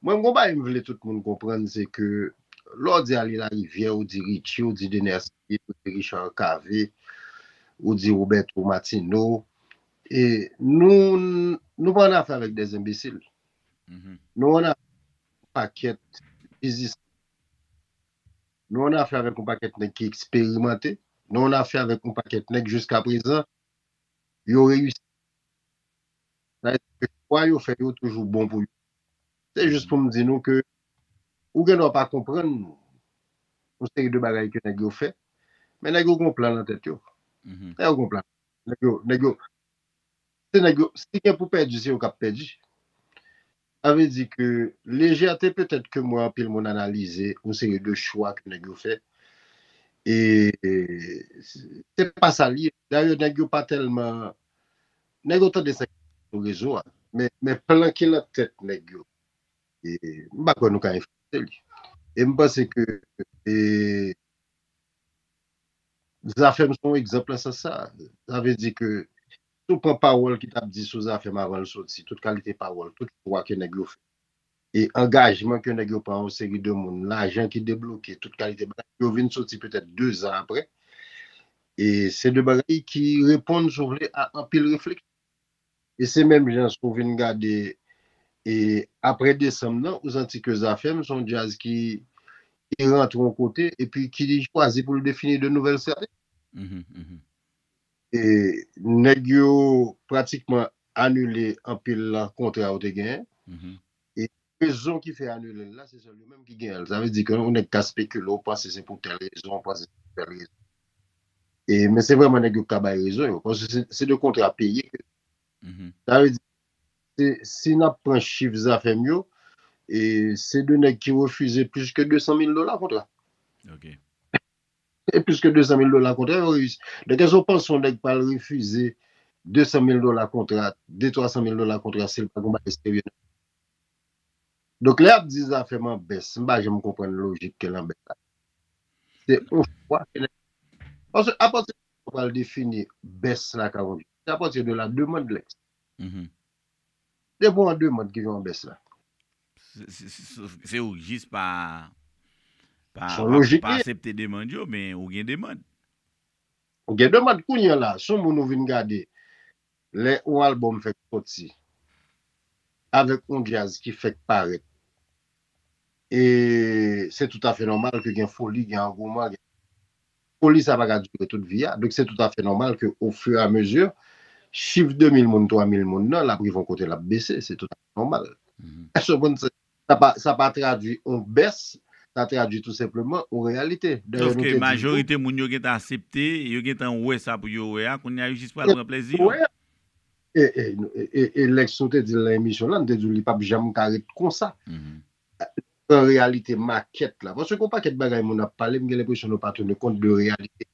Mwen gon bagay m vle tout moun konprann se ke lè w di Aly Lariviere ou di Richie ou di Dener Céline ou di Richard Cavé ou di Roberto Martino e nou nou pa annafè avèk des enbesil nou annafè avèk yon pakèt bizismen nou annafè avèk yon pakèt nèg ki eksperimante nou annafè avèk yon pakèt nèg jiskaprezan yo reyisi sa vle di ke chwa yo fè yo toujou bon pou yo. Se jis pou m di nou ke ou gen dwa pa konprann yon seri de bagay ke nèg yo fè, men nèg yo gen yon plan nan tèt yo. Nèg yo gen yon plan. Nèg yo, nèg yo, se nèg yo, si gen pou pèdi, se yo k ap pèdi. Sa vle di ke lejète petèt ke m wè anpil moun analize yon seri de chwa ke nèg yo fè, e se pa sa l ye. Dayè nèg yo pa tèlman Nèg yo tande sa ki pase sou rezo a men plan ki lan tèt nèg yo m pa kwè nou ka enfliyanse li e m panse ke Zafèm se yon egzanp lan sans sa sa vle di ke si w pran pawòl ki t ap di sou Zafèm avan l soti tout kalite pawòl tout chwa ke nèg yo fè e angajman ke nèg yo pran yon seri de moun, lajan ki debloke, tout kalite bagay, yo vin soti petèt 2 zan aprè, e se 2 bagay ki reponn si w vle a anpil refleksyon. E se menm jan si w vin gade e aprè desanm nan, ou santi ke Zafèm se yon djaz ki rantre yon kote epi ki chwazi pou l defini de nouvèl strateji. Nèg yo pratikman anile anpil kontra yo te genyen. E rezon ki fè anile l la, se sèl yo menm ki genyen l. Sa vle di ke yon nèg ka spekile, ou panse se pou tèl rezon, ou panse se pou tèl rezon. Men se vreman nèg yo ki ka bay rezon yo. Paske se de kontra peye ke. Sa vle di, si n ap pran chif Zafèm yo, se de nèg ki refize plis ke 200 mil dola kontra. E plis ke 200 mil dola kontra yo reyisi. Donk èske w panse yon nèg pral refize 200 mil dola kontra, 2, 300 mil dola kontra si l pa gen yon bagay serye nan men l? Donk lè y ap di zafè m an bès, m pa janm konprann lojik ke l an bès la. Se yon chwa ke nèg la fè. Paske apati de ki sa w pral defini bès la ka yon jwèt? Se apati de la demande l ekziste. Depi w an demand ki vin an bès la. Se ou ki jis pa asepte demand yo men ou gen demand. Ou gen demand kounye la si w moun ou vin gade lè yon album fèk soti avèk yon djaz ki fèk parèt e se toutafè nòmal ke gen foli gen angouman. Foli sa pa ka dire tout vi a, donk se tout afè nòmal ke o fur et à mesure, chif 2000 moun, 3000 moun nan, l ap rive yon kote l ap bese, se tout afè nòmal. Èske w konprann? Sa pa, sa pa tradwi yon bès, sa tradwi tou senpleman yon reyalite. Dayè nou te di. Sofke majorite moun yo gentan asepte, yo gentan wè sa pou yo wè a, kounye a yo jis pral pran plèzi yo. E, e, e, e, e, Lex, nou te di l nan emisyon lan, nou te di w li p ap janm ka ret konsa. Nou pran reyalite makèt la. Paske gen yon pakèt bagay moun ap pale, m gen lenpresyon nou pa tounen kont de reyalite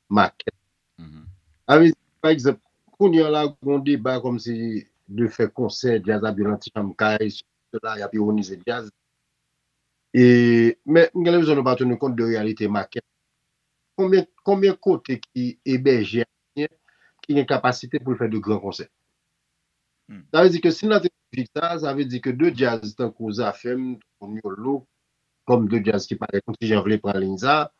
makèt la. Sa vle di, pa egzanp, kounye an la gen yon deba kòmsi de fè konsè djaz ap jwe nan ti chanm kay, sèsi sèla, y ap iwonize djaz. E, men, m gen lenpresyon nou pa tounen kont de reyalite makèt la. Konbyen, konbyen kote ki ebèje ayisyen ki gen kapasite pou l fè de gran konsè? Sa vle di ke si n la te. Pita sa vle di ke 2 djaz tankou Zafem, tankou Miolo, kom 2 djaz ki parèt yon ti jan vle pran liy sa,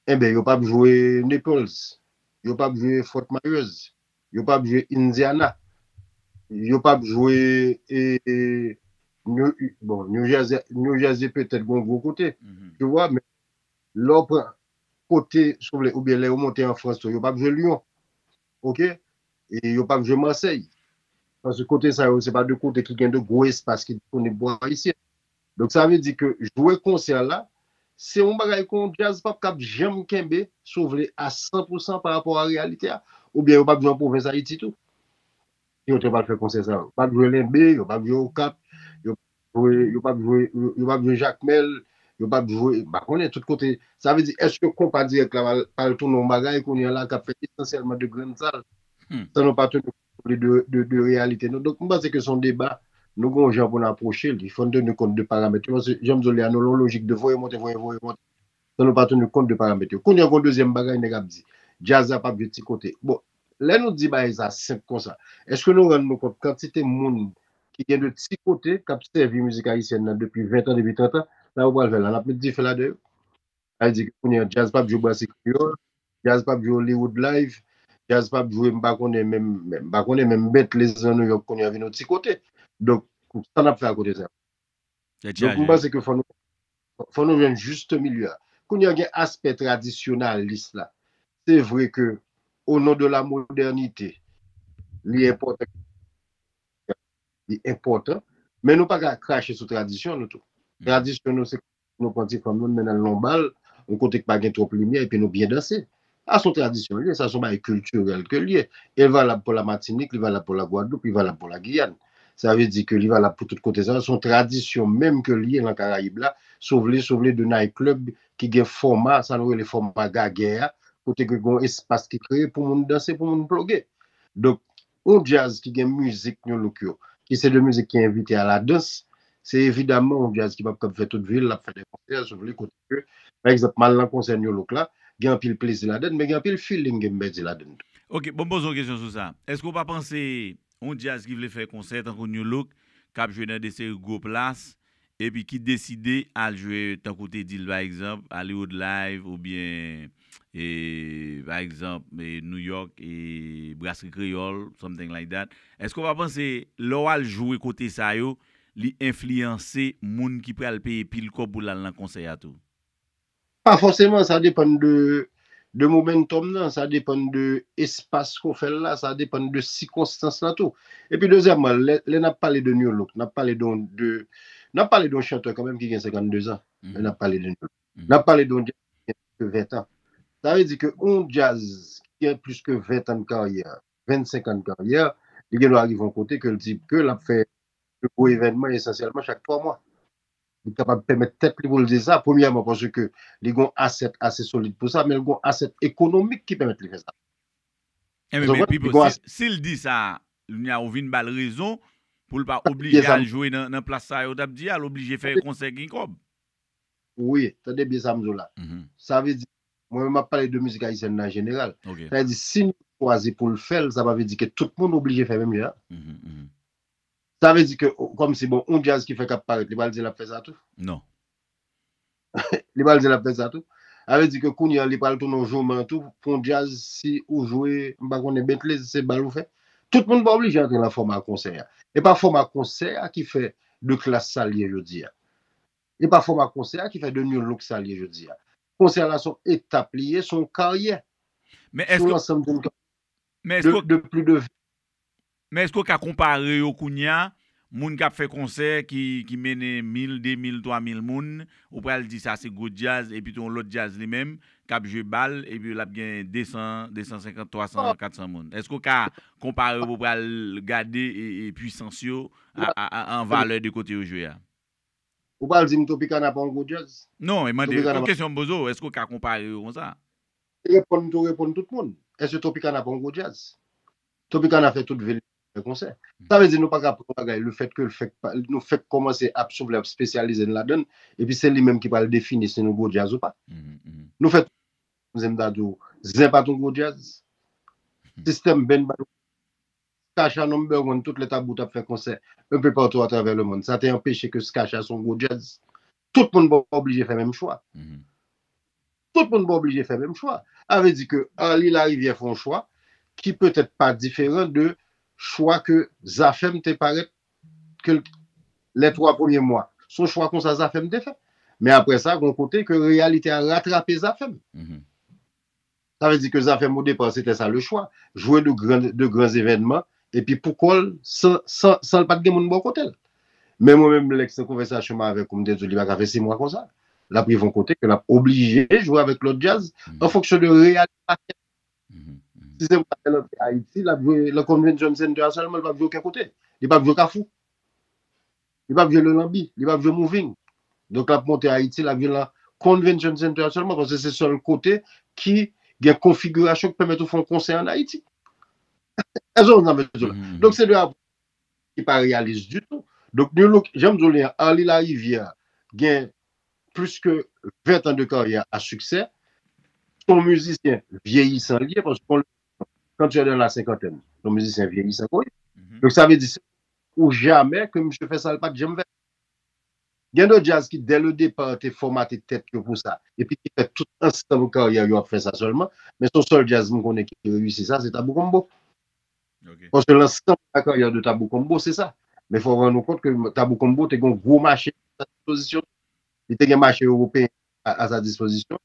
enben yo pap jwe Naples, yo pap jwe Fort Myers, yo pap jwe Indiana, yo pap jwe bon New Jersey, New Jersey petèt gon gwo kote tu wè men lè w pran kote si w vle oubyen lè yo monte an Frans tou yo pap jwe Lyon. ok e yo pap jwe mansèy paske kote sa yo se pa 2 kote ki gen 2 gwo espas ki disponib pou ayisyen donk sa vle di ke jwe konsè la se yon bagay ke yon djaz pap kab janm kenbe si w vle a 100 pousan pa rapò a reyalite a oubyen yo pap jwe an pwovens ayiti tou. Ki lòt yo pral fè konsè sa yo? Yo pap jwe Lenbe, yo pap jwe Okap, yo pap jwe, yo pap jwe Jakmèl, yo pap jwe, m pa konnen tout kote. Sa vle di èske Konpa Dirèk la pral tounen yon bagay kounye a la k ap fèt esansyèlman de grenn sal san nou pa teni kont de reyalite nou? Donk m panse ke se yon deba nou gen yon jan pou nou apwoche li. Fò n teni kont de paramèt yo paske jan m di w li a nou lan yon lojik de voye monte, voye monte, San nou pa tenu kont de paramèt yo. Kounye a gen yon dezyèm bagay nèg ap di. Djaz la pap jwe ti kote. Bon, lè nou di bagay sa senp konsa, èske nou rann nou kont kantite moun ki gen de ti kote k ap sèvi mizik ayisyèn nan depi ventan, depi trentan? Sa yo pral fè la? N ap met dife ladan yo? Sa vle di ke kounye a djaz pap jwe Brasserie Creole, djaz pap jwe Hollywood Live, djaz pap jwe m pa konnen menm, m pa konnen menm Bentley's nan Nouyòk kounye a vin yon ti kote. Donk, sa n ap fè a kote sa yo? Donk m panse ke fò nou fò nou jwenn juste milieu a. Kounye a gen aspè tradisyonalis la. Se vre ke o non de la modènite li enpòtan li enpòtan men nou pa ka krache sou tradisyon nou tou. Tradisyon nou se Nou pran ti fanm nou, nou mennen l nan yon bal, yon kote ki pa gen twòp limyè epi nou byen danse. Sa se yon tradisyon li ye, sa se yon bagay kiltirèl ke li ye. E l valab pou Lamatinik, li valab pou Lagwadloup, li valab pou Lagiyann. Sa vle di ke li valab pou tout kote sa yo. Se yon tradisyon menm ke li ye lan Karayib la, si w vle, si w vle de night club ki gen fòma, sa nou rele fòma gagè a, kote ke gen yon espas ki kreye pou moun danse, pou moun ploge. Donk, Yon djaz ki gen mizik Nu Look yo, ki se de mizik ki envite a la dans, se evidaman yon djaz ki pap kab fè tout vi l ap fè de konsè sou li kote ke, pa egzanp, m al nan konsè Nu Look la, gen anpil plezi ladan l, men gen anpil feeling ke m pèdi ladan l tou. Ok, bon m poze w kesyon sou sa. Èske w pa panse yon djaz ki vle fè konsè tankou Nu Look, k ap jwe nan de seri gwo plas, epi ki deside al jwe tankou w te di l pa egzanp Hollywood Live oubyen pa egzanp New York Brasri Kreyòl something like that èske w pa panse lè w al jwe kote sa yo li enfliyanse moun ki pral peye pil kòb pou l al nan konsè a tou? Pa fòseman, sa depann de momentòm nan, sa depann de espas ke w fè l la, sa depann de sikonstans la tou. Epi dezyèmman, lè n ap pale de New Look, n ap pale de yon chantè kanmenm ki gen 52 zan, lè n ap pale de New Look. N ap pale de yon djaz ki gen plis ke 20 tan. Sa vle di ke yon djaz ki gen plis ke 20 tan de karyè, 25 an de karyè, li gen dwa rive yon kote ke l di ke l ap fè yon gwo evènman esansyèlman chak 3 mwa. Li kapab pèmèt tèt li pou l di sa, premyèman paske li gen yon asèt ase solid pou sa, men li gen yon asèt ekonomik ki pèmèt li fè sa. Enben, men Pipo, si l di sa, kounye a ou vin ba l rezon pou l pa oblije al jwe nan plas sa yo t ap di a, l oblije fè konsè gen kòb. Wi, tande byen sa m di w la. Sa vle di, mwen menm m ap pale de mizik ayisyèn nan an jeneral. Sa vle di, si nou chwazi pou l fè l, sa pa vle di ke tout moun oblije fè menm jan an. Sa vle di ke kòm si bon yon djaz ki fèk ap parèt li pral di lap fè sa tou? Non. Li pral di lap fè sa tou? Sa vle di ke kounye an li pral tounen yon jouman tou pou yon djaz si ou jwe m pa konnen Bentley se bal ou fè? Tout moun pa oblije antre nan fòma konsè a. E pa fòma konsè a ki fè The Klass sa l ye jodi a. E pa fòma konsè a ki fè The New Look sa l ye jodi a. Konsè la son etap li ye, son karyè. Men èske Men eske w ka konpare yo kounya, moun k ap fè konsè ki mennen mil, demil, twamil moun, ou pral di sa se gwo djaz epi te yon lòt djaz li menm k ap jwe bal epi l ap gen desan, desansenkant, twasan, katsan moun. Eske w ka konpare yo pou w pral gade pwisans yo an valè de kote yo jwe a? Ou pral di m Tropicana pa yon gwo djaz? Non, e mande, se yon kesyon m poze w, eske w ka konpare yo konsa? Li reponn tou reponn tout moun. Eske Tropicana pa yon gwo djaz? Tropicana fè tout vil li fè konsè. Sa vle di nou pa ka pran yon bagay lefètke l fèk pa, nou fèk kòmanse ap soufle ap spesyalize n ladan l epi se li menm ki pral defini si nou gwo djaz ou pa. Nou fè tout moun konnen m ta di w Zen pa t yon gwo djaz, System Band pa t yon gwo djaz, Skah-Shah Number One tout lè Tabou t ap fè konsè enpe patou atravè lemonn sa te anpeche ke Skah-Shah se yon gwo djaz. Tout moun pa oblije fè menm chwa. Tout moun pa oblije fè menm chwa. Sa vle di ke Arly Larivière fè yon chwa ki petèt pa diferan de chwa ke Zafèm te parèt ke l lè 3 premye mwa. Se yon chwa konsa Zafèm te fè. Men aprè sa gen yon kote ke reyalite a ratrape Zafèm. Sa vle di ke zafè mo de passe tè sa le chwa, jwe de gran de gran zevènman epi pou kò l san san san l pa t gen moun bò kote l. Men mwen menm Lex nan konvèsasyon m avè k ou m te di w li pa ka fè 6 mwa konsa. L ap rive yon kote ke l ap oblije jwe avèk lòt djaz an fonksyon de reyalite matyè. Si se pou ta fè l antre Ayiti l ap jwe nan Convention Center a sèlman l p ap jwe oken kote. Li p ap jwe Kafou. Li pap jwe Lolanbi, li pap jwe Moving. Donk lap monte Ayiti, lap jwe lan Convention Center sèlman paske se sèl kote ki gen konfigirasyon ki pèmèt ou fè yon konsè an Ayiti. Èske nou konprann sa m vle di w la? Donk se de apwòch ki pa reyalis ditou. Donk New Look, jan m di w li an, Arly Larivière gen plis ke 20 tan de karyè a siksè. Se yon mizisyen vyeyisan li ye paske kon lè kan tu es dans la cinquantaine, se yon mizisyen vyeyisan ke w ye. Donk sa vle di se yon Ou jamè ke misye fè sa l pat janm fè. Gen de djaz ki dè le depart te fòmate tèt yo pou sa epi ki fè tout ansanm karyè yo ap fè sa sèlman, men son sèl djaz m konnen ki reyisi sa se Tabou Combo. Paske lansanm karyè de Tabou Combo se sa. Men fò w rann ou kont ke Tabou Combo te gen yon gwo mache a sa dispozisyon li. Li te gen mache ewopeyen a sa dispozisyon li.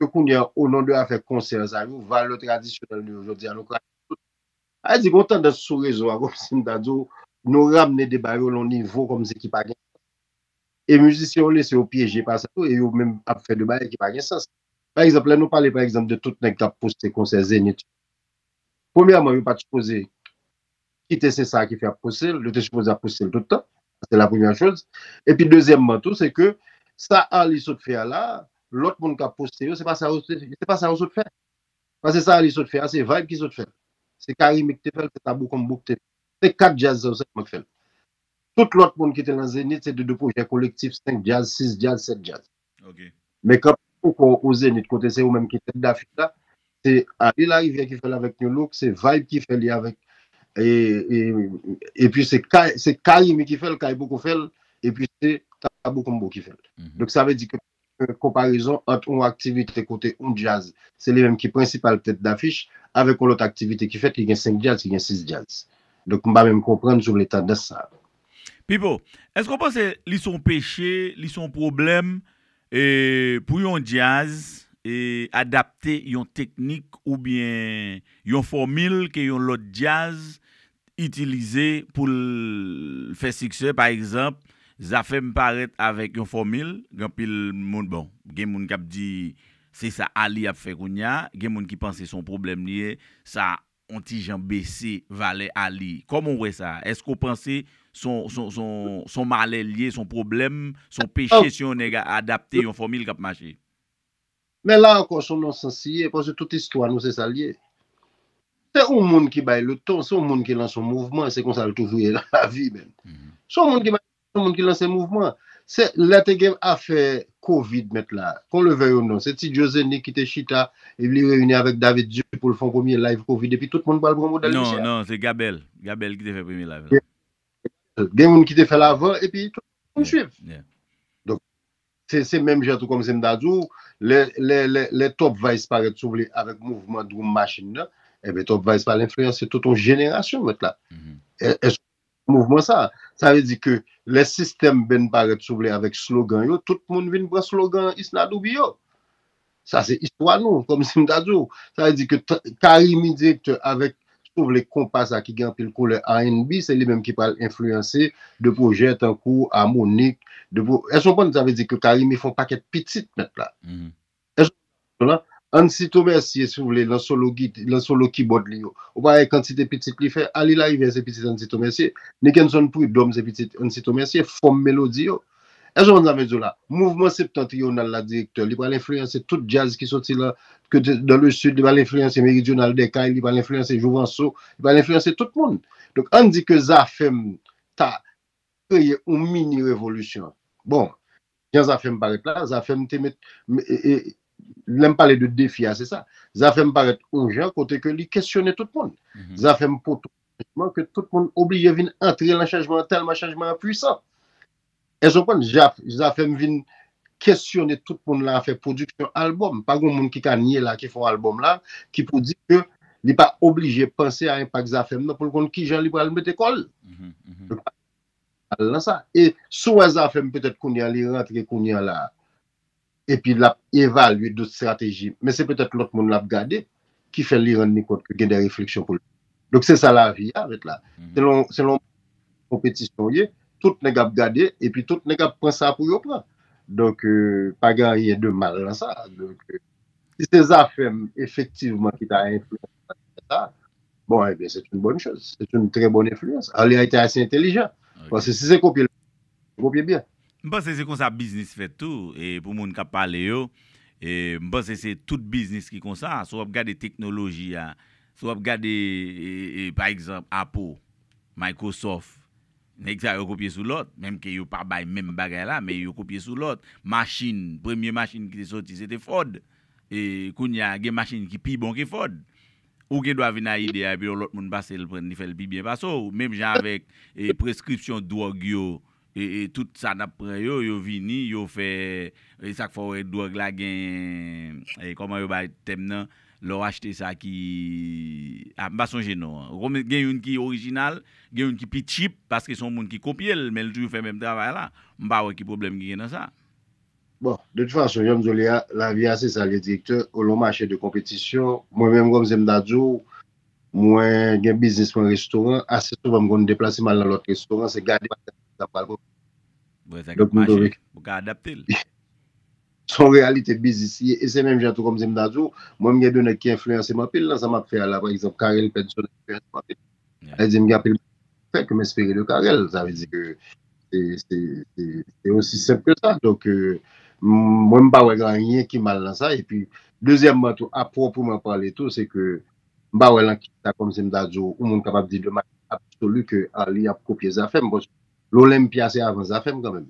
Ke kounye an, o non de afè konsè sa yo, valè tradisyonèl nou yo jodi a, nou kraze tout. Sa vle di, gen yon tandans sou rezo a, kòmsi m ta di w, nou ramne deba yo lè yon nivo kòmsi ki pa gen sans. E mizisyen yo lese yo pyeje pa sa tou e yo menm ap fè de bagay ki pa gen sans. Pa egzanp, lè nou pale pa egzanp de tout nèg k ap poste konsè Zenith yo, premyèman yo pa t sipoze. kite se sa ki fè ap pouse l, yo te sipoze ap pouse l tout tan, sa se la premyè choz, epi dezyèmman tou se ke sa Arly sot fè a la, lòt moun kap poste yo se pa sa yo se se pa sa yo sot fè, pase sa Arly sot fè a se vayb ki sot fè l, se Carimi ki te fè l, se Tabou Combo ki te fè l, se 4 djaz sa yo sèlman ki fè l, tout lòt moun ki te lan Zenith se te de pwojè kolektif 5 djaz, 6 djaz, 7 djaz. Men kanpe pou kò w o Zenith kote se ou menm ki tèt dafich la, se Aly Larivière ki fè l avèk Nu-Look, se Vibe ki fè li avèk epi se Carimi ki fè l, Kay poko fè l, epi se Tabou Combo ki fè l. Donk sa vle di ke konparezon ant yon aktivite kote yon djaz se li menm ki prensipal tèt dafich avèk yon lòt aktivite ki fèt ki gen 5 djaz, ki gen 6 djaz. Donk m pa menm konprann si w vle tandans sa. Pipo, eske w panse li son peche, li son pwoblèm pou yon djaz adapte yon teknik oubyen yon fòmil ke yon lòt djaz itilize pou l fè siksè? Pa egzanp, Zafèm parèt avèk yon fòmil, gen anpil moun, bon, gen moun k ap di se sa Aly ap fè kounya, gen moun ki panse son pwoblèm li ye, sa on ti jan bese valè a li. Kòman w wè sa? Èske w panse s on malè l ye, s on pwoblèm, s on peche si yon nèg a adapte yon fòmil k ap mache? Men la ankò s on nonsans li ye, paske tout istwa nou se sa l ye. Se on moun ki bay leton, se on moun ki lanse on mouvman, se konsa l toujou ye nan lavi menn. S on moun ki bay Yon moun ki lanse mouvman an. Se lè te gen afè covid mèt la, kon le vèy ou non, se Ti Djo Zeni ki te chita e li reyini avèk David Di pou l fè yon premye live covid epi tout moun pral pran modèl misye a. Non, non, se Gabèl. Gabèl ki te fè premye live la. Gen moun ki te fè l avan epi tout moun swiv. Donk, se menm jan tou kòm se m ta di w, lè Top Vice parèt si w vle avèk mouvman Drum Machine nan, enben Top Vice pral enfliyanse tout yon jenerasyon mèt la. Èske mouvman sa a. Sa vle di ke lè sistèm benn parèt si w vle avèk slogan yo, tout moun vin pran slogan Isnadhoubi yo. Sa se istwa nou, kòm si m ta di w. Sa vle di ke Carimi direktè avèk si w vle konpa sa ki gen anpil koulè rnb, se li menm ki pral enfliyanse de pwojè tankou Harmonik, de pwo, èske w konprann sa vle di ke Carimi fè yon pakèt pitit mèt la. Èske ou konn chanson lan? Ansito Mercier si ou vle lan solo git lan solo kibòd li yo. Ou pa wè kantite pitit li fè? Arly Larivière se pitit Ansito Mercier. Nickenson Prud'homme se pitit Ansito Mercier. Fòm melodi yo. Èske ou konn sa m vle di ou la? Mouvman septentrional la direktè. Li pral enfliyanse tout djaz ki soti lan ke te dans le sud. Li pral enfliyanse Méridional des Cayes. Li pral enfliyanse Jouvenceau. Li pral enfliyanse tout moun. Donk ann di ke Zafèm ta kreye yon mini revolisyon. Bon. Jan zafem paret la zafem te met lem pale de defi a se sa zafem paret yon jan kote ke li kesyone tout moun zafem pot chanjman ke tout moun oblije vin antre lan chanjman an telman chanjman an pwisan eske ou konprann zafem vin kesyone tout moun lan afè pwodiksyon album pa gon moun ki ka nye la ki fon album la ki pou di ke li pa oblije panse a enpak zafem nan poul konn kijan li pral mete kol Al nan sa e si w wè Zafèm petèt kounye an li rantre kounye an la epi l ap evalye dot estrateji men se petèt lòt moun l ap gade ki fè li rann li kont ke gen de refleksyon pou l fè. Donk se sa lavi a avèt la. Se lon konpetisyon w ye, tout nèg ap gade epi tout nèg ap pran sa pou yo pran. Donk pa gen anyen de mal nan sa. Si se Zafèm efektivman ki ta enfliyanse sa. Bon, eh bien, c'est une bonne chose. C'est une très bonne influence. Arly a été assez intelligent. Parce que si c'est copier, copier bien. M panse se konsa biznis fèt tou e pou moun kap pale yo e m panse se tout biznis ki konsa si w ap gade teknoloji a si w ap gade e pa egzanp Apple Microsoft nèg sa yo kopye sou lòt menm ke yo pa bay menm bagay la men yo kopye sou lòt machin premye machin ki te soti se te Ford Kounya gen machin ki pi bon ke Ford. Ou gen dwa vin a ide a epi yon lòt moun pase l pran l li fè l pi byen pase w. Menm jan avèk preskripsyon dwòg yo, tout sa n ap pran yo, yo vini, yo fè, e sa k fè w wè dwòg la gen, kòman yo bay tèm nan, lè w achte sa ki, a m pa sonje non an. Ou konprann? Gen youn ki orijinal, gen youn ki pi tchip paske se yon moun ki kopye l men li toujou fè menm travay la. M pa wè ki pwoblèm ki gen nan sa. Bon, de tout fason, jan m di w li a, lavi a se sa l ye direktè, ou lon mache de konpetisyon. Mwen menm kòm se m ta di w, mwen gen biznis mwen restoran, ase souvan m konn deplase m al nan lòt restoran, se gade bagay la ki sa m pral pran. Bon, sa gen pou mache, ou ka adapte l. Se yon reyalite biznis li ye e se menm jan tou kòm se m ta di w, mwen m gen de nèg ki enfliyanse m anpil nan sa m ap fè a la, pa egzanp, Carel Pedson enfliyanse m anpil. Sa vle di m gen anpil bagay pou m fè ke m espere de Carel. Sa vle di ke se osi senp ke sa. Donk, mwen m pa wè gen anyen ki mal nan sa. Epi, dezyèmman tou, a pwòpreman pale tou, se ke m pa wè lan ki sa, kòmsi m ta di w, yon moun kapab di de manyè absoli ke Arly ap kopye zafè m. Paske L'Olympia se avan zafè m kanmenm.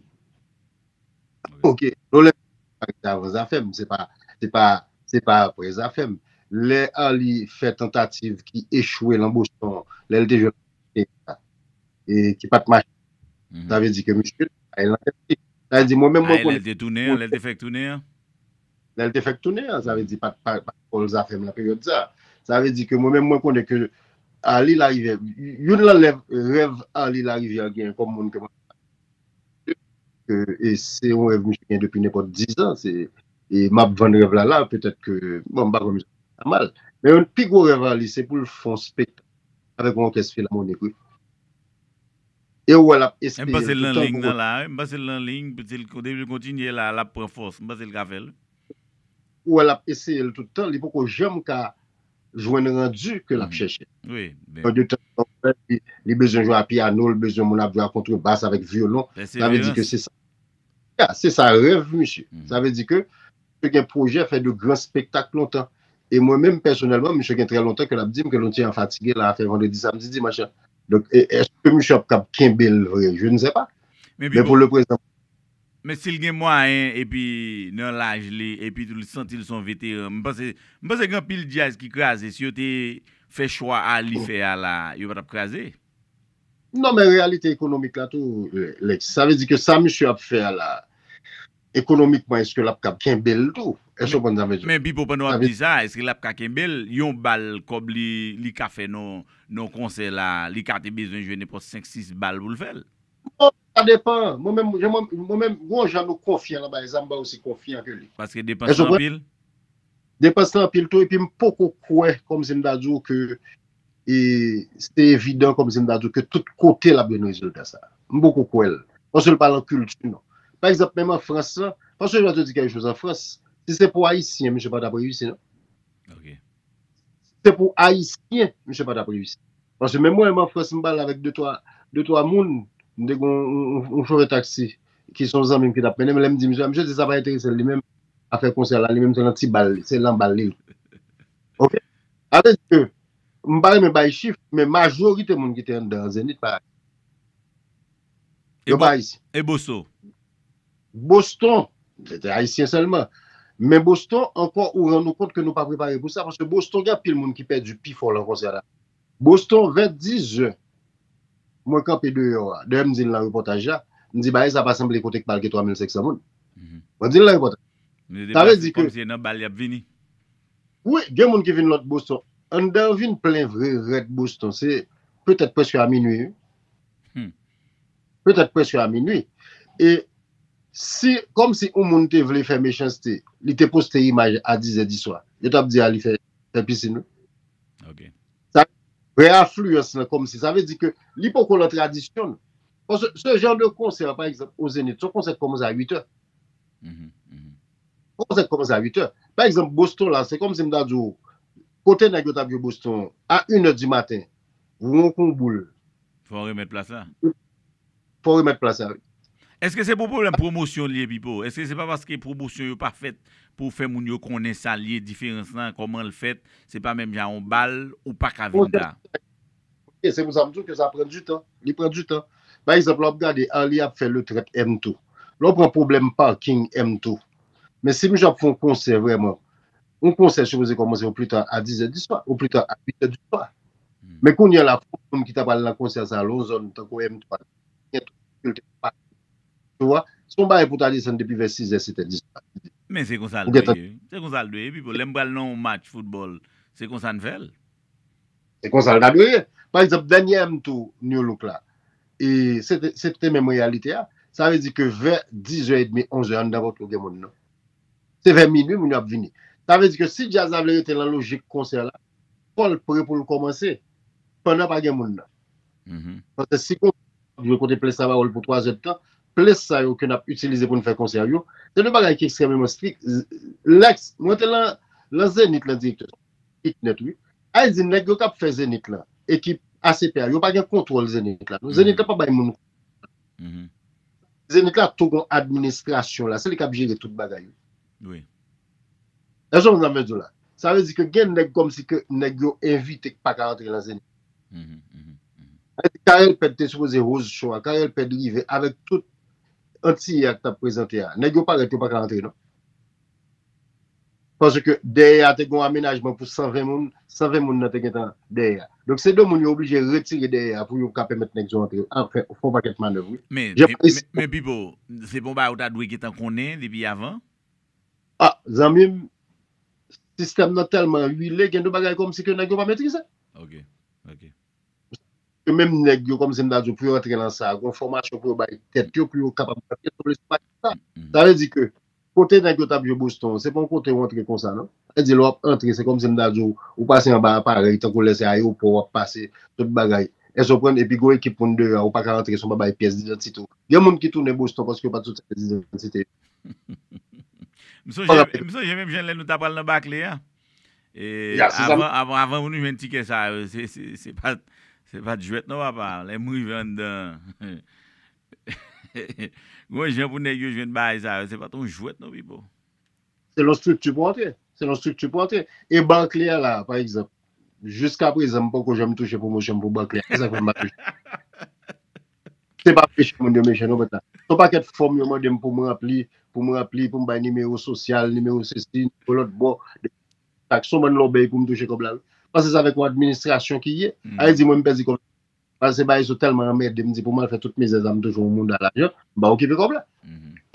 Ok, nou lè Arly te avan zafè m, se pa, se pa, se pa aprè zafè m. Lè Arly fè tantativ ki echwe lan Boston, lè l te jwenn opòtinite sa, e ki pa t mache, sa vle di ke misye te bay lan tèt li. Sa vle di mwen menm mwen Ay, lè l konnen te tounen an, lè l te fèk tounen an? Lè l te fèk tounen an, sa vle di pa t, pa t fol zafè m lan peryòd sa. Sa vle di ke mwen menm mwen konnen ke Arly Larivière, youn lan lèv, rèv Arly Larivière genyen kòm moun ke mwen. e se yon rèv misye gen depi nenpòt dizan, e map vann rèv la la, petèt ke, bon m pa kwè misye fè sa mal, men youn pi gwo rèv a li se pou l fè yon spektak avèk yon òkès filamonik wi, e ou wè lap eseye l tout tan pou kontinye. M panse l nan liy, depi l kontinye la lap pran fòs, m panse l ka fè l wi. Ou wè lap eseye l tout tan, li poko janm ka jwenn randu ke lap chèche. Yon de tan an wè li bezwen jwe a piano, li bezwen moun ap jwe a kontre bas avèk vyolon. Sa vle di ke se sa. Ya, se sa rèv misye. Sa vle di ke misye gen pwojè fè de gran spektak lontan. E mwen menm pèsonèlman, misye gen trè lontan ke lap dim ke nou ti an fatige la afè vandredi, samdi, dimanch la. Donk, eske misye ap kab kenbe l vre? Je ne sais pas. Men pou le prezan. Men sil gen mwayen epi nan laj li epi tou li santil son veteran m panse m panse gen anpil djaz ki kraze si yo te fè chwa a li fè a la yo patap kraze. Non men reyalite ekonomik la tou Lex sa vle di ke sa misye ap fè a la ekonomikman eske lap kab kenbel tou èske ou konprann sa vle di. Men Pipo pandan wap di sa eske lap ka kenbel yon bal kòb li li ka fè nan yon konsè la li ka te bezwen jwe nenpòt 5 6 bal poul fèl. Bon, sa depan. Mwen menm, jan mwen, mwen menm, gon jan nou konfyan lan bay zam, mwen osi konfyan ke li. Paske depans Èske w lan konprann? anpil? Depans lan anpil tou, epi m poko kwè, kòm si m ta di w ke e se evidan kòm si m ta di w ke tout kote l ap jwenn rezilta sa. M poko kwè l. Paske l pa lan kilti nou. Pa egzanp, menm an Frans lan, paske jan w te di kèk choz an Frans, si se pou Ayisyen, misye pa t ap reyisi non. Si se pou ayisyen misye patap reyisi. Paske menm mwen menm an frans m pale avèk de twa de twa moun m te gen yon chofè taksi ki son zanmi m ki tap mennen m lè m di misye sa misye di sa pa enterese l li menm afè konsè la li menm se nan ti bal se lan bal li l ok sa vle di ke m pa renmen bay chif men majorite moun ki te anndan an zenith pa. Yo pa Ayisyen. E Boso? Boston, se te Ayisyen sèlman. Men Boston, ankò ou rann ou kont ke nou pa prepare pou sa, paske Boston gen anpil moun ki pèdi pi fò lan konsè la. Boston, vè dizè, mwen kanpe deyò a, dayè m di l lan repòtaj la, m di bagay sa pa sanble kote k pa al gen 3500 moun. Mwen di l lan repòtaj. Sa vle di ke. Kòm se nan bal y ap vini. Wi, gen moun ki vin lòt Boston. Anndan an vin plen vre rèd Boston. Se petèt prèske a minui. Petèt prèske a minui. E si, kòm si yon moun te vle fè mechanste, li te poste imaj a dizè diswa, yo t ap di a li fè pisin wi. Ok. Sa vrè afliyans lan kòmsi, sa vle di ke li poko lan tradisyon nou. Paske se jan de konsè pa egzanp o Zenith, se yon konsè ki kòmanse a 8 è. Se yon konsè ki kòmanse a 8 è. Pa egzanp Boston la, se kòmsi m ta di w, kote nèg yo t ap jwe Boston a 1 è di maten, Ron kon boul. Fò remèt plas la. Fò remèt plas la wi. Eske se pou pwoblèm pwomosyon li ye Pipo? Eske se pa paske pwomosyon yo pa fèt pou fè moun yo konnen sa li ye, diferans lan, kòman l fèt, se pa menm jan a yon bal ou pa ka vin ta. Ok, se pou sa m di w ke sa pran di tan, li pran di tan. Pa egzanp lè w ap gade Arly ap fè le 30 M tou. Lè w pran pwoblèm parking M tou. Men si misye ap fè yon konsè vrèman. yon konsè sipoze kòmanse o pli ta a dizè di swa, o pli ta a uitè di swa. Men kounye a la, fòk moun ki ta pral nan konsè sa a lon zòn tankou M3 la, gen tout difikilte pou pase. Ou wè? Se yon bagay pou ta desann depi vè sizè, setè di swa. Men se konsa l dwe ye wi. Se konsa l dwe ye Pipo. Lè m pral nan yon match foutbòl, se konsa n fè l. Se konsa l ta dwe ye. Pa egzanp, dènyè M tou New Look la, e se te menm reyalite a. Sa vle di ke vè dizè edmi, onzè, anndan Pòto gen moun non. Se vè minwi moun yo ap vini. Sa vle di ke si djaz la vle rete lan lojik konsè la, fò l pre pou l kòmanse pandan pa gen moun nan. Paske si gon gwoup ap jwe kote ples la ba wòl pou twa zè de tan, ples sa yo ke n ap itilize pou n fè konsè yo, se de bagay ki ekstrèmeman strik. Lèks, mwen te lan lan Zenith lan direktè, strik nèt wi. Al di nèg yo k ap fè Zenith lan, ekip ACP a, yo pa gen kontwòl Zenith la non. Zenith la pa bay moun kontwòl. Zenit la tou gon administrasyon la, se li kap jere tout bagay yo. Wi. Èske w konprann sa m vle di w la? Sa vle di ke gen nèg kòmsi ke nèg yo envite ki pa ka antre lan Zenit. Èske Carel Pède te sipoze host show a? Carel Pède rive avèk tout Antiyè a ki tap prezante a. Nèg yo parèt yo pa ka antre non. Paske dèyè a te gen yon amenajman pou 120 moun, 120 moun nan te gentan dèyè a. Donk se 2 moun yo oblije retire dèyè a pou yo ka pèmèt nèg yo antre. A fè yon pakèt manèv wi. Men Pipo, se pa yon bagay ou ta dwe gentan konnen depi avan? A, zanmi m, sistèm nan tèlman wile gen de bagay kòmsi ke nèg yo pa metrize. Ok. Ok. Ke menm nèg yo kòmsi m ta di w pou yo antre nan sa, gen yon fòmasyon pou yo bay tèt yo pou yo kapab antre sou lespay sa. Sa vle di ke Kote nèg yo tap jwe Boston an se pa yon kote ou antre konsa nan. Sa di lè wap antre se kòmsi m ta di w ou pase anba aparèy tankou lè se ayewopò wap pase tout bagay èske w konprann epi gon ekip moun deyò a ou pa ka antre san w pa bay pyès didantite w. Gen moun ki tounen Boston paske yo pat soti ak didantite yo. M sonje m sonje menm jan lè nou ta pral nan Barclay a avan avan avan pou nou jwenn tikè sa yo se pat se pat jwèt non papa lè m rive anndan Gon jan pou nèg yo jwenn bagay sa yo, se pat yon jwèt non Pipo. Selon strikti pou antre. Selon strikti pou antre. E Barclay a la a, pa egzanp, jiska prezan m poko janm touche pwomosyon m pou Barclay a. Se sa k fè m pa touche. Se pa peche moun yo mechan non pèt la. Se yon pakèt fòm yo mande m pou m ranpli, pou m ranpli, pou m bay nimewo sosyal, nimewo sesi, nimewo lòtbò. Se yon bann lòbèy pou m touche kòb la wi. Pase sa avèk yon administrasyon ki ye. A vle di mwen m pèdi kòb la. Pase se bagay sou tèlman anmède m di pou m al fè tout mizè sa m touche yon mouda lajan m pa okipe kòb la.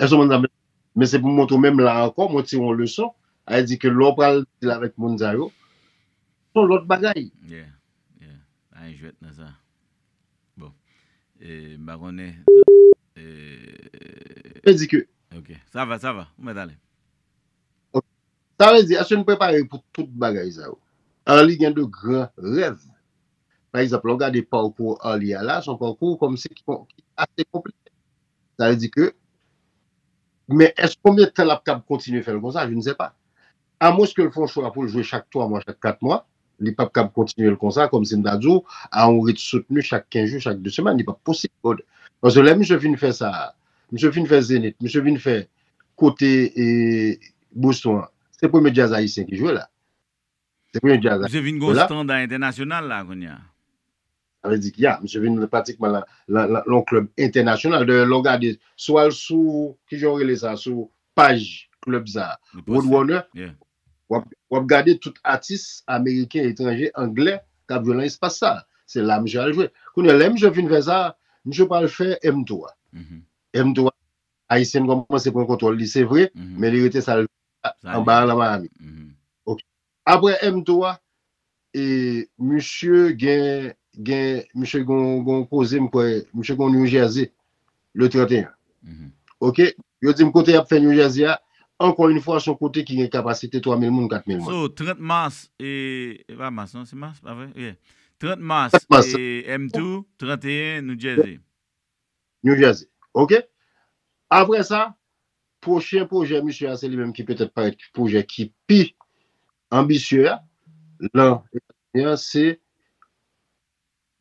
Èske w konprann sa m vle di? Men se pou m montre w menm la ankò mwen tire yon leson sa di ke lè w pral dil avèk moun sa yo se yon lòt bagay. Yeah, yeah. Pa gen jwèt nan sa. Bon. E m pa konnen e. Vle di ke. Ok. Sa va, sa va. Ou mèt ale. Ok. Sa vle di èske n prepare pou tout bagay sa yo? Arly gen de gran rèv. Pa egzanp, lè w gade pawkou Arly a la, se yon pawkou kòmsi ki ase konplike. Sa vle di ke, men èske konbyen tan l ap kab kontinye fè l konsa, je ne sais pas. Amwens ke l fè yon chwa pou l jwe chak 3 mwa, chak 4 mwa, li p ap kab kontinye l konsa, kòmsi m ta di w, a yon rit soutni chak 15 jou, chak 2 semèn. Li p ap posib. Paske lè misye fin fè sa a, misye fin fè Zenith, misye vin fè kote Boston an, se premye djaz ayisyen ki jwe la. Misye vin gen yon standard international la kounya. Sa vle di ki ya, misye vin pratikman lan yon club international. Dayè lè w gade, si w al sou, ki jan yo rele sa, sou paj club sa, Road Runner, w ap gade tout atis ameriken, etranje, angle k ap jwe lan espas sa. Se la misye al jwe. Kounya lè misye fin fè sa, misye pral fè M3. M3, Ayisyen kòmanse pran kontwòl li se vre, men li rete sa l vle. Anba a nan Miami. Ok. Apre M-tou a, e misye gen, gen, misye gen yon koze m kwè, misye gen yon New Jersey, le 31. Ok. Yo di m kote y ap fè New Jersey a, ankò yon fwa, son kote ki gen kapasite 3,000 moun, 4,000 moun. So, 30 Mars, e, e pa Mars non, se Mars, pa vre? Yeah. 30 Mars, e, M-tou, 31, New Jersey. New Jersey. Ok. Apre sa, pwochen pwojè misye a se li menm ki petèt parèt ki pwojè ki pi anbisye a lan Etazini an se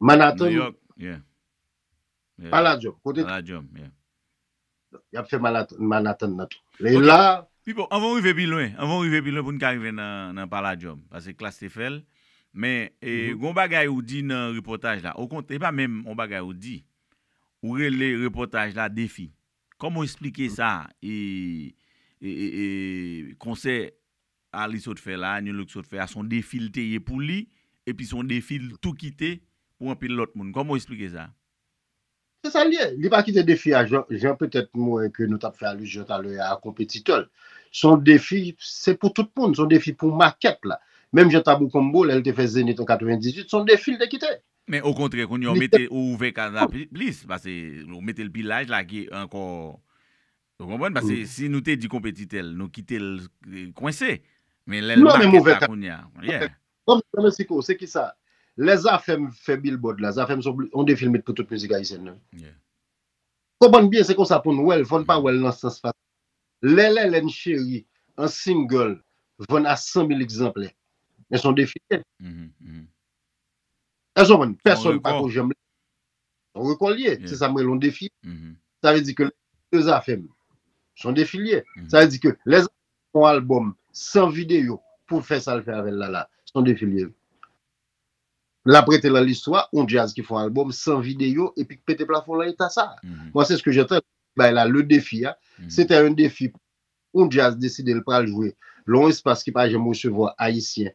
Manhattan, New York. Palladium. Palladium, yeah. Donk, y ap fè Manat, Manhattan nan tou. Lè y Ok. la. Pipo, anvan w rive pi lwen, anvan w rive pi lwen pou n ka rive nan, nan Palladium, pase Klass te fè l, men, e, Mhm. gen yon bagay ou di nan repòtaj la, okont, e pa menm yon bagay ou di, ou rele repòtaj la defi. Kòman w esplike sa, e, e, e, e, konsè Arly sot fè la a, Nu Look sot fè a, s on defi l te ye pou li, epi s on defi l tou kite pou anpil lòt moun. Kòman w esplike sa? Se sa l ye. Li pa kite defi a jan petèt m wè ke nou t ap fè alizyon talè a konpetitè l. Se yon defi, se pou tout moun, se yon defi pou makèt la. Menm jan Tabou Combo lè l te fè Zenith an 98, se yon defi l te kite. Men okontrè kounye a w mete, ou ouvè kad la plis, pase ou mete l pi laj, lage ankò, ou konprann? Pase si nou te di konpetitè l, nou kite l kwense. Men lè l makèt la kounye a, yeah. Bon bagay Mexico, se kisa? Lè Zafèm fè Billboard la, Zafèm se yon defi l met pou tout mizik ayisyen nan. Konprann byen se konsa pou n wè l, fò n pa wè l nan sans fasil. Lè Lèlè m cheri an single vann a 100 mil egzanplè, men se yon defi l ye. Èske w konprann? Pèsòn pa ko janm. Son rekò l ye. Se sa m rele yon defi. Sa vle di ke de zafè m. Son defi l ye. Sa vle di ke lè zafè m fè yon albòm san videyo pou l fè sa l fè avè l la la. Son defi l ye wi. L ap rete lan listwa yon djaz ki fè yon albòm san videyo epi k pete plafon lan eta sa a. Mwen se ske jantan bay la le defi a. Se te yon defi pou yon djaz deside l pral jwe lan yon espas ki pa janm resevwa ayisyen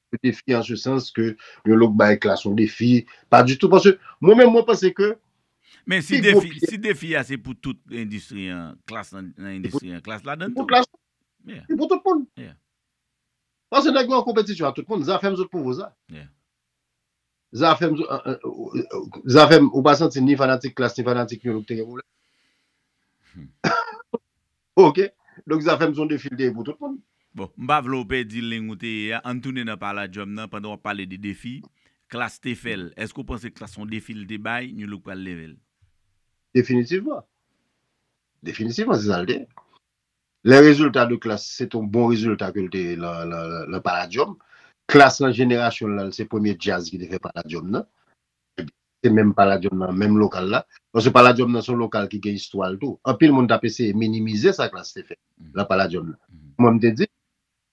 yon defi an se sans ke yon lòk bay klas yon defi, pa di tou paske mwen menm mwen panse ke. Men si defi, si defi a se pou tout endistri an, klas lan nan endistri an, klas ladann tou. Se pou tout moun. Paske nèg yo an konpetisyon ak tout moun, zafèm zot pou vouzan. Zafem Zafem ou pa santi ni fanatik klass ni fanatik new look te gen pwoblèm? Ok donk Zafem son defi li te ye pou tout moun. Bon, m pa vle w pèdi lign ou te ye a, ann tounen nan pala djòm nan pandan w ap pale de defi klass te fè l. Èske w panse klass son defi li te bay new look pral leve l? Definitivman. Definitivman se sa li te ye. Lè rezilta de klas se te yon bon rezilta ke l te lan Palladium, klas lan jenerasyon l lan se premye djaz ki te fè Palladium nan, ebyen se menm Palladium nan, menm lokal la, paske Palladium nan se yon lokal ki gen istwa l tou. Anpil moun t ap eseye minimize sa klas te fè lan Palladium nan. Mwen m te di,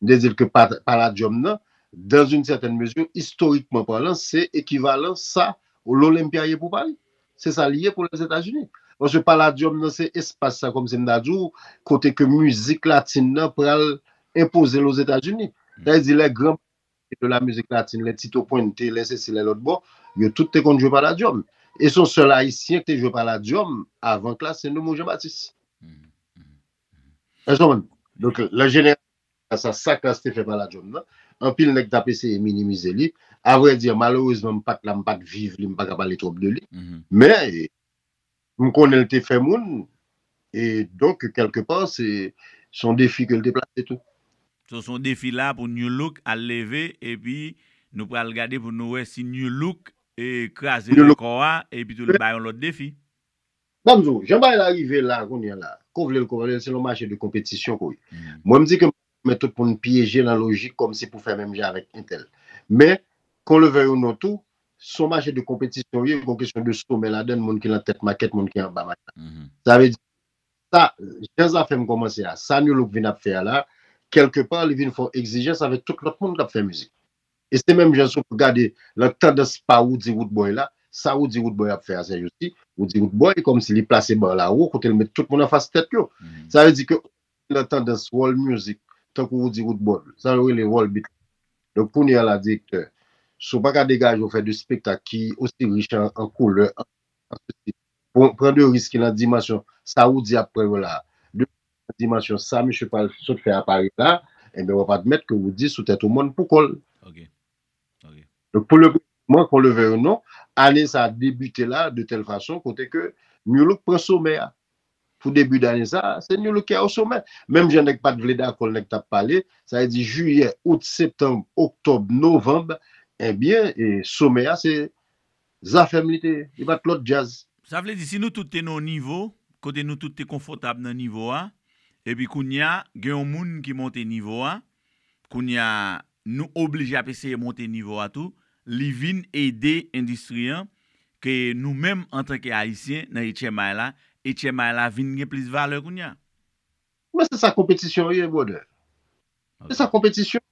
M te di l ke Palladium nan, dans une certaine mesure, istorikman palan, se ekivalan sa L'Olympia ye pou Pari. Se sa li ye pou Lèzetazini. Paske Palladium nan se espas sa, kòmsi m ta di w, kote ke mizik latin nan pral enpoze l Ozetazini. Sa vle di lè gran mèt de la musique latine, lè Tito Puente, lè sesi, lè lòtbò, yo tout te konn jwe Palladium. E se yon sèl Ayisyen ki te jwe Palladium avan klas, se Noumou Jean Baptiste. Èske w konprann? Donk, lè jeneral te fè sa, sa klas te fè pa la djòm nan, anpil nèg t ap eseye minimize li. Avrèdi, malerezman m pa t la, m pa t viv li, m pa ka pale twòp de li. Men, m konnen l te fè moun, e donk, kèlke pa, se yon defi ke l te plase tou. So, se yon defi la pou Nu Look al leve, epi nou pral gade pou nou wè si Nu Look kraze rekò a, epitou l bay yon lòt defi. Sa m di w, jan bagay la rive la kounye la, ke w vle l ke w pa vle l, se yon mache de konpetisyon ke w ye. Mwen m di ke m pa pèmèt tout moun pyeje nan lojik kòmsi pou fè menm jan avèk entèl. Men, kon le vèy ou non tou, se yon mache de konpetisyon w ye, gon kesyon de somè ladan l, moun ki lan tèt makèt, moun ki anba makèt. Sa vle di, sa, jan zafè m kòmanse a, sa Nu Look vin ap fè a la, kèlke pa li vin fè yon egzijans avèk tout lòt moun k ap fè mizik. E se menm jan si w gade lan tandans pa Woody Woodboy la, sa Woody Woodboy ap fè a se jousi, Woody Woodboy kòm si li plase bar la wo kote l met tout moun anfas tèt yo. Sa vle di ke ou ki lan tandans world music tankou Woody Woodboy, sa yo rele world beat la. Donk kounye a la direktè, si w pa ka degaje w fè 2 spektak ki osi rich an an koulè, an stil, pou pran 2 risk ki lan dimansyon sa Woody ap pran yo la a. nan dimansyon sa misye pral sot fè a Pari la, enben w ap admèt ke w di sou tèt w mòn pou kò l. Donk pou le moman, kon le vèy ou non, ane sa debite la de tèl fason kote ke Nu Look pran somè a. Pou debi dane sa, se Nu Look ki a o somè. Menm jan nèg pa t vle dakò l, nèg t ap pale, sa vle di Jiyè, Out, Septanb, Oktòb, Novanb, enben somè a se Zafem li te ye, li pat lot djaz. Sa vle di si nou tout te nan yon nivo, kote nou tout te konfòtab nan nivo a, epi kounya gen yon moun ki monte nivo a, kounya nou oblije ap eseye monte nivo a tou, li vin ede endistri an, ke nou menm antanke Ayisyen nan etchèmay la, etchèmay la vin gen plis valè kounya. Men se sa konpetisyon ye brother. Se sa konpetisyon.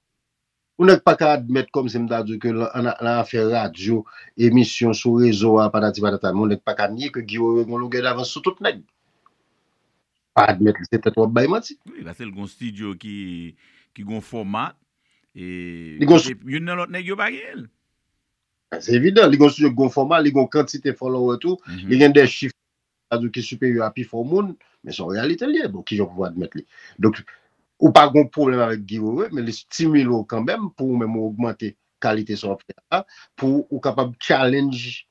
Yon nèg paka admèt kòmsi m ta di w ke lan afè radyo, emisyon sou rezo a patati patata men yon nèg paka nye ke Guy Wewe gen yon logè davans sou tout nèg. Pa admèt li se tèt w ap bay manti. Wi pase l gen yon stidyo ki gen yon fòma e kote youn nan lòt nèg yo pa genyen l. Se evidan, li gen yon stidyo ki gen yon fòma, li gen yon kantite fòlowè tou, li gen de chif Sa di w ki siperyè a pi fò moun, men se yon reyalite li ye. Bon, kijan w pou admèt li? Donk, ou pa gen yon pwoblèm avèk Guy Wewe, men li stimile w kanmenm pou ou menm ou ogmante kalite sa w ap fè a, pou ou kapab challenge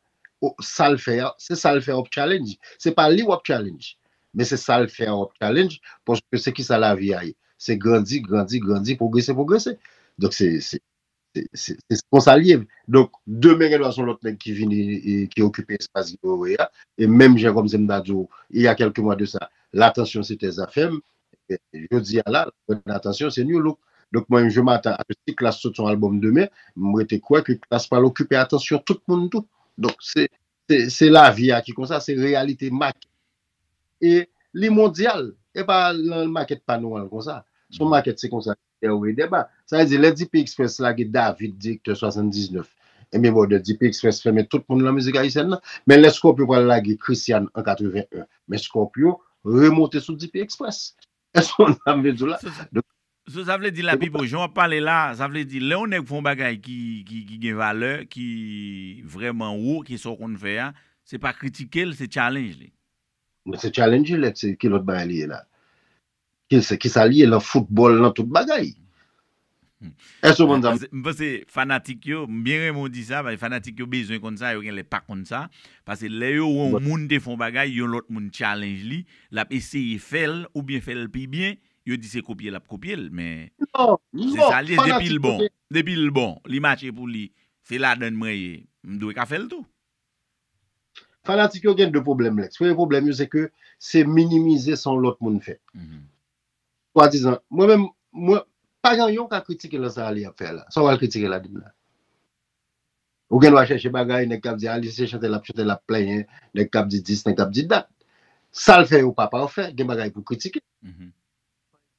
sa l fè a. Se sa l fè a w ap challenge. Se pa li w ap challenge, men se sa l fè a w ap challenge, paske se kisa lavi a ye? Se grandi, grandi, grandi, pwogrese, pwogrese. Donk, se. Se konsa l ye. Donk, demen gendwa se yon lòt nèg ki vini e ki okipe espas Guy Wewe a. E menm jan kòm se m ta di w, il y a quelques mois de ça, l'attention c'etait Zafèm. Jodi a la, l'attention c'est Nu Look. Donk, mwen menm je m'attends à ce que si Klass sot yon albòm demen, m rete kwè ke Klass pral okipe atansyon tout moun tou. Donk, se, se, se lavi a ki konsa, se reyalite mak. E li mondyal. E pa nan makèt pa nou an l konsa. Son makèt se konsa. Dè ou e dè ba. Sa vle di lè DP Express la ge David direktè 79 enben bon dè DP Express fèmen tout moun lan mizik ayisyèn lan men lè Scorpio pral lage Christian an 81 men Scorpio remonte sou DP Express èske ou konn sa m vle di w la donk So sa vle di la Pipo jan wap pale la sa vle di lè yon nèg fè yon bagay ki ki gen valè ki vrèman wo ki sa w konn fè a se pa kritike l se challenge li. Se challenge li lè se ki lòt bagay li ye la. Kisa kisa li ye lan foutbòl lan tout bagay. Èske ou konn sa m. M panse fanatik yo, m byen renmen w di sa paske fanatik yo bezwen konn sa, yo genlè pa konn sa. Pase lè yo wè yon moun te fè yon bagay, yon lòt moun challenge li, l ap eseye fè l oubyen fè l pi byen, yo di se kopye l ap kopye l men se sa l ye depi l bon, depi l bon, li mache pou li, se ladann mwen ye, m dwe ka fè l tou. Fanatik yo gen 2 pwoblèm Lex. Premye pwoblèm yo se ke se minimize sa yon lòt moun fè. Swa dizan, mwen menm, mwen, pa gen yon ka kritike lan sa Aly ap fè la. Sa w pral kritike ladann la? Ou gen dwa chèche bagay, nèg k ap di Aly se chante l ap chante l ap plenyen, nèg k ap di dis, nèg k ap di dat. Sa l fè yo pa pafè, gen bagay pou w kritike.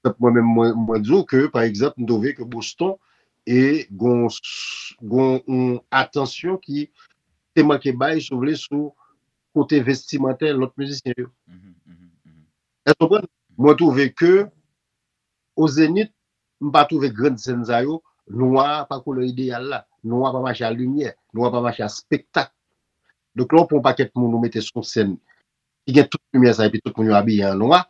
Parekzanp mwen menm mwen di w ke parekzanp m twouve ke Boston e gon gon yon atansyon ki te manke bay si w vle sou kote vestimantè lòt mizisyen yo. Èske w konprann? Mwen twouve ke o Zenith m pa twouve grand sèn sa yo nwa a pa koulè ideyal la. Nwa pa mache a limyè. Nwa pa mache a spektak. Donk lè w pran yon pakèt moun ou mete sou yon sèn ki gen tout limyè sa epi tout moun yo abiye an nwa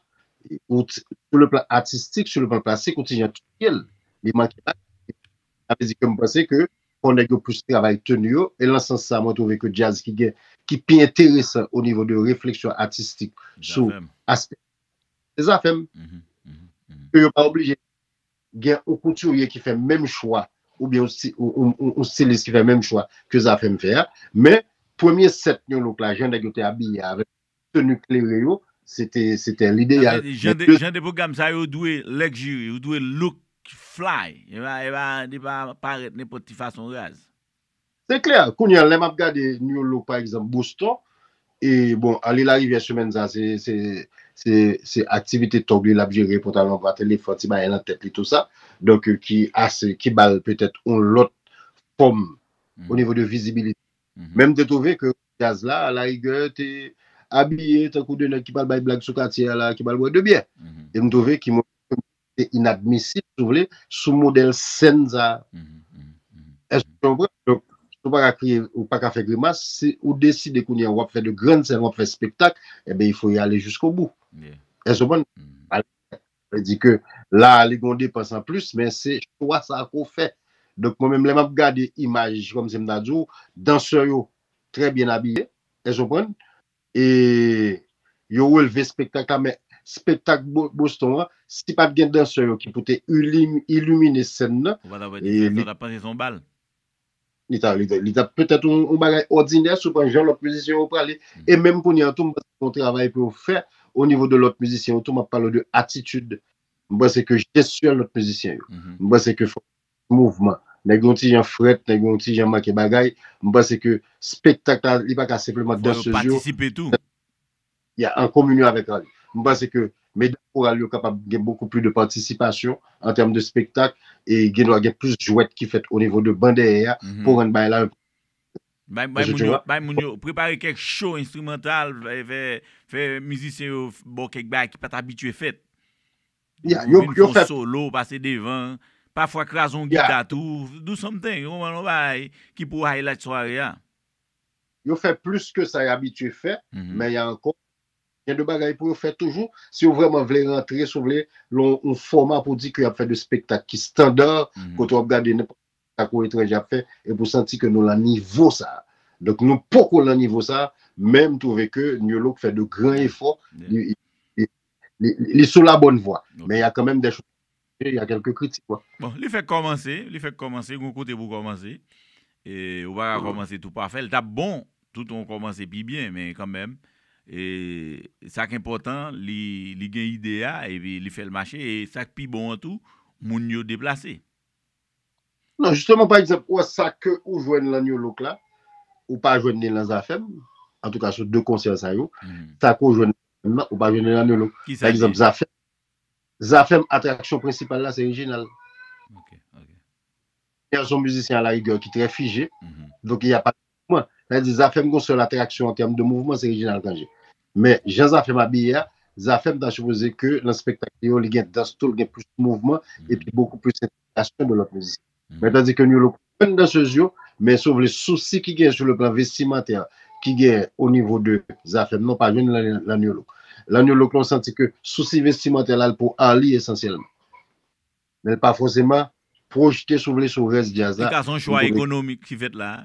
ou t sou le plan atistik sou le plan plastik ou t jan tutel li manke bagay sa vle di ke m panse ke fò nèg yo plis travay tenu yo e lan sans sa mwen twouve ke djaz ki gen ki pi enteresan o nivo de refleksyon atistik sou aspè se zafèm ke yo pa oblije Gen yon koutirye ki fè menm chwa oubyen yon stilis ki fè menm chwa ke Zafèm fè a. Men, premye sèt yon louk la, jan nèg yo te abiye avèk teni klere yo, se te lideyal. Jan de pwogram sa yo dwe luxury, yo dwe look fly. Yo pa parèt nenpòt ti fason raz. Se klè, kounye a lè m ap gade New Look pa egzanp, Boston, e bon ale larivyè semèn sa se se se aktivite tòg li l ap jere, pantalon anba, telefòn, ti bagay nan tèt li tou sa, donk ki ase ki ba l petèt yon lòt fòm o nivo de vizibilite. Men m te twouve ke djaz la alarigè te abiye tankou de nèg ki pral bay blag sou katye a la, ki pral bwè de byè. E m twouve ki mwen se inadmisib si w vle sou modèl sèn sa a. Èske w konprann? Donk, si w pa ka kriye, ou pa ka fè grimas, si ou deside kounye a w ap fè de grann sèn, w ap fè spektak, enben il faut y aller jusqu'au-bout. Èske w konprann? Aller jusqu'au-bout sa vle di ke la a li gen yon depans an plis, men se chwa sa a ke w fè. Donk, mwen menm lè m ap gade imaj, kòmsi m ta di w, dansè yo trè byen abiye, èske w konprann? E yo relve spektak la men spektak Boston an si pat gen dansè yo ki pou te ilimine sèn nan Ou pa ta wè ti frè sa ou ta panse se yon bal. Li ta li ta petèt yon bagay òdinè si w pran jan lòt mizisyen yo prale e menm kounye a tou m panse gen yon travay pou yo fè onivo de lòt mizisyen yo tou m ap pale w de atitid m panse ke jestyè lòt mizisyen yo m panse ke fòk mouvman. Nèg yon ti jan frèt, nèg yon ti jan manke bagay. M panse ke spektak la, li pa ka senpleman Fò yo dansez yo. patisipe tou. Ya, an kominyon avèk Arly. M panse ke medam koral yo kapab gen bokou pli de patisipasyon an tèm de spektak e gen dwa gen plis jwèt ki fèt onivo de ban dèyè a pou rann bagay la Bay, bay Èske moun tu yo, vois? bay moun yo, prepare kèk show enstrimantal, fè, fè, fè mizisyen yo ba w kèk bagay ki pa t abitye fèt. Ou vin fon solo ou pase devan, pafwa kraze yon gita tou, do something, ou konprann, yon bagay ki pou highlight sware a. Yo fè plis ke sa y abitye fè, men y a ankò gen de bagay pou yo fè toujou, si yo vrèman vle rantre, si yo vle lan yon fòma pou di ke y ap fè de spektak ki standard, kote w ap gade nenpòt spektak yon etranje ap fè, epi w santi ke nou lan nivo sa a. Donk nou poko lan nivo sa a, men m twouve ke Nu-Look fè de gran efò, li Li sou la bonne voie. Men ya kan menm de chou. E ya kelke kritik wè. Bon, li fèk kòmanse, li fèk kòmanse, gon kote pou kòmanse. E ou pa ka kòmanse tou pafè. Li tap bon, tout on kòmanse pi byen, men kan menm. E sa k enpòtan, li gen ide ya, e pi li fèl mache, e sak pi bon an tou, moun yo deplase. Non jisteman pa egzanp ou wè sa ke ou jwenn lan New Look la ou pa jwenn ni lan Zafèm antouka sou 2 konsè sa yo sa ke ou jwenn lan Zafèm nan ou pa jwenn ni lan New Look pa egzanp Zafèm Zafèm atraksyon prensipal la se Reginald Reginald son mizisyen a la rigè ki trè fije donk li ap Mouvman, sa vle di Zafèm gen yon sèl atraksyon an tèm de mouvman se Reginald Cangé. Men jan Zafèm abiye a, Zafèm ta sipoze ke nan spektak li yo li gen dans tou, li gen plis mouvman epi bokou plis entegrasyon de lòt mizisyen. Men tandi ke Niyolo pran pwen dansez yo, men si w vle sousi ki genyen sou le plan vestimantè ki genyen o nivo de Zafèm nan w pa jwenn li lan Niyolo. Lan Niyolo lan w santi ke sousi vestimantè la al pou Arly esansyèlman. men l pa fòseman pwojte si w vle sou rès djaz la. Li ka se yon chwa ekonomik ki fèt la a.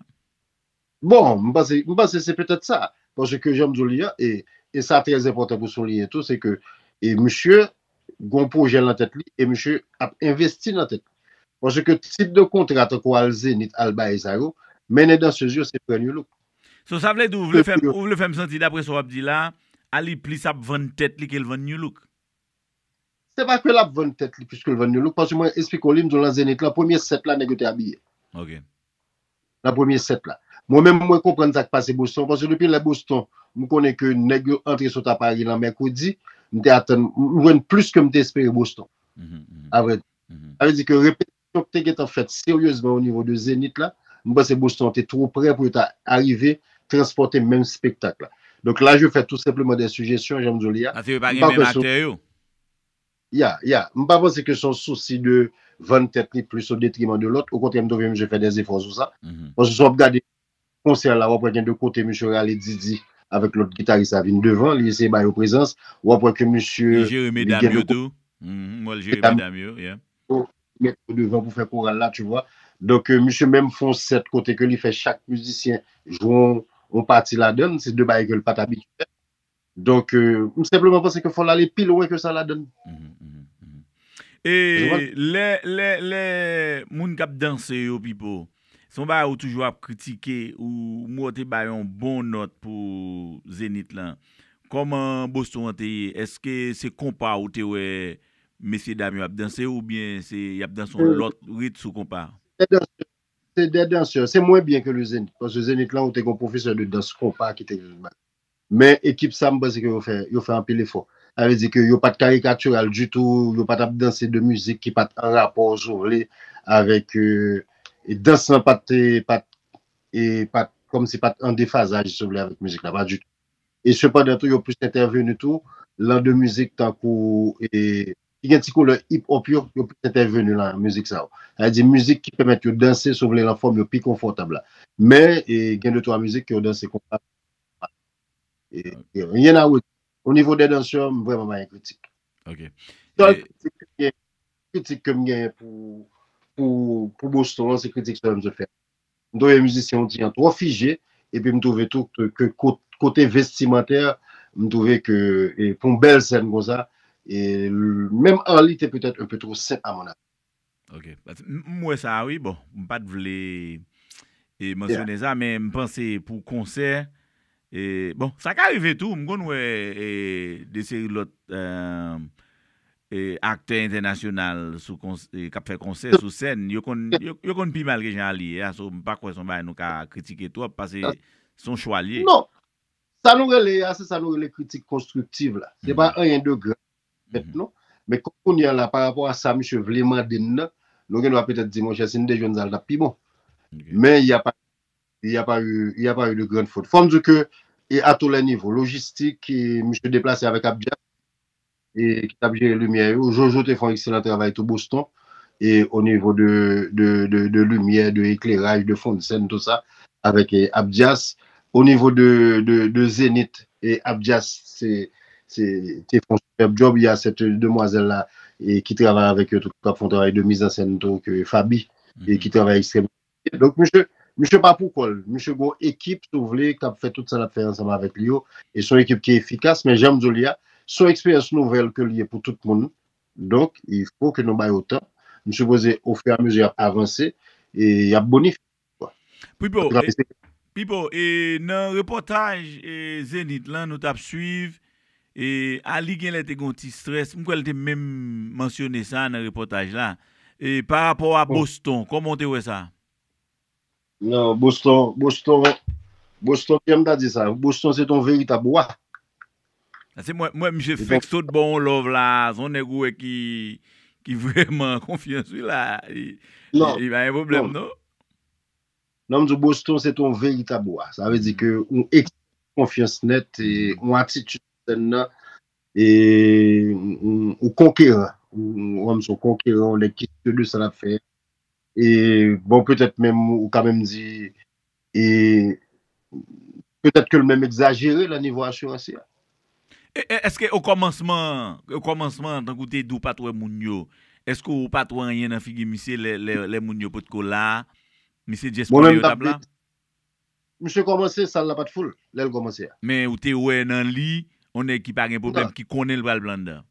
Bon, m panse, m panse se petèt sa. Paske jan m di w li a, e, e sa trè enpòtan pou souliyen tou, se ke, e misye gen yon pwojè lan tèt li, e misye ap envesti nan tèt li. Paske tip de kontra tankou al Zenith, al Bae sa yo, mennen dansez yo se pran Nulook. So sa vle di ou vle fè m, ou vle fè m santi daprè sa w ap di la a, Arly plis ap vann tèt li ke l vann Nulook? Se pa ke lap vann tèt li plis ke l vann yon look paske mwen esplike w li m di w lan Zenith lan premye sèt la nèg yo te abiye. Ok. Lan premye sèt la. Mwen menm mwen konprann sa k pase Boston paske depi lè Boston m konnen ke nèg yo antre sot a Paris lan mèkredi m te atann m jwenn plis ke m te espere Boston. A vrè di. Sa vle di ke repete Chòk te gentan fèt seryezman onivo de Zenith la. M panse Boston an te two pre pou yo ta arive transpòte menm spektak la. Donk la je fè tou senpleman de sijesyon, jan m di w li a. Paske yo pa M gen pa menm kwè se yon. aktè yo. Ya, ya. M pa panse ke se yon sousi de vann tèt li plis odetriman de lòt. Okontrè m twouve misye fè de efò sou sa. Paske si w ap gade konsè la wap wè gen de kote misye rale Didi avèk lòt gitaris la vin devan li eseye ba yo prezans wap wè ke misye Li jere li medam gen de yo kote tou Mwen wè l jere medam medam yo yeah. yo li met yo devan pou fè koral la tu vois donk misye menm fè yon sèt kote ke li fè chak mizisyen jwe yon pati ladann se de bagay ke l pat abitye fè Donk, m senpleman panse ke fò l ale pi lwen ke sa ladann. E lè, lè, lè moun k ap danse yo Pipo, se yon bagay ou toujou ap kritike, ou m wè w te bay yon bon nòt pou Zenith lan. Kòman Boston an te ye? Eske se konpa ou te wè mesye dam yo ap danse oubyen se y ap danse yon lòt rit sou konpa? Se 2 dansè, se mwen byen ke le Zenith, paske Zenith lan ou te gen yon pwofesè de dans konpa ki te Men ekip sa m panse ke yo fè yo fè anpil efò. Sa vle di ke yo pat karikatiral ditou, yo pat ap danse de mizik ki pat an rapò si w vle avèk dans lan pat pat e pat kòmsi pat an defazaj si w vle avèk mizik la pa ditou. E sepandan tou yo plis entèveni tou lan de mizik tankou e ki gen ti koulè hip hop yo, yo plis entèveni lan mizik sa yo. Sa vle di mizik ki pèmèt yo danse si w vle lan fòm yo pi konfòtab la. Men e gen de twa mizik ke yo danse konpa. Gen rien a redire. Au niveau des danseurs, m vrèman pa gen kritik. Ok. Sèl kritik kem gen, kritik kem gen pou pou Boston an se kritik sèlman m sot fè. M twouve mizisyen haiti an twò fije epi m twouve tou ke kote vestimantè m twouve ke pou yon bèl sèn konsa menm Arly te petèt un peu trop simple à mon avis. Ok m wè sa wi bon m pat vle mansyone sa men m panse pou konsè bon sa ka rive tou m konn wè de seri lòt aktè entènasyonal kap fè konsè sou sèn yo konn pi mal ke jan Arly ye a so m pa kwè son bagay nou ka kritike twòp pase son chwa l ye. Non sa nou rele a se sa nou rele kritik konstriktiv la se pa anyen de grav bèt non. Men kòm kounye a la pa rapò a sa misye vle mande n nan, nou gen dwa petèt di monchè si n te jwenn sa l t ap pi bon. Men il y a pas il y a pas eu il y a pas eu de grande faute. Fò m di w ke e a tou lè nivo, lojistik e misye deplase avèk Abdias e ki t ap jere limyè yo, Jojo te fè yon ekselan travay tou Boston e o nivo de de de limyè, de ekleraj, de fondsèn tou sa avèk Abdias. O nivo de Zenith e Abdias te fon superb job, ya cette demoiselle la ki travay avèk yo tou kap fon travay de mise en scène tou ke Faby e ki travay extrèmman byen. Donk misye, misye pa pou kòl, misye gon ekip si w vle kap fè tout sa lap fè ansanm avèk li yo e son ekip ki efikas men janm di w li a son eksperyans nouvèl ke li ye pou tout moun donk il faut ke nou ba yo tan, m sipoze o fur et à mesure yap avanse e yap bonifye. Pipo, Pipo e nan repòtaj e Zenith lan nou tap swiv e Arly genlè te gen yon ti strès, m kwè l te menm mansyone sa nan repòtaj la e pa rapò a Boston kòman w te wè sa? Non Boston, Boston, Boston kijan m ta di sa, Boston se t yon veritab wa Ase mwen mwen misye fek sot bon on love la son nèg ou wè ki ki vrèman an konfyans wi la li pa gen pwoblèm non. Non m di w Boston se te yon veritab wa sa vle di ke yon ekspresyon konfyans nèt e yon atitid sou sèn nan e yon konkeran ou wè m son konkeran yon nèg ki sye de sa l ap fè e bon petèt menm ou ka menm di E petèt ke l menm egzajere lan nivo asirans li a. E èske okòmansman, okòmansman tankou w te di w pa t wè moun yo, èske w pa t wè anyen nan figi misye lè moun yo pot ko la a? Misye jès konnen yo t ap la? Misye kòmanse, sal la pa t foul lè l kòmanse a. Men ou te wè nan li yon nèg ki pa gen pwoblèm, ki konnen l pral blandan?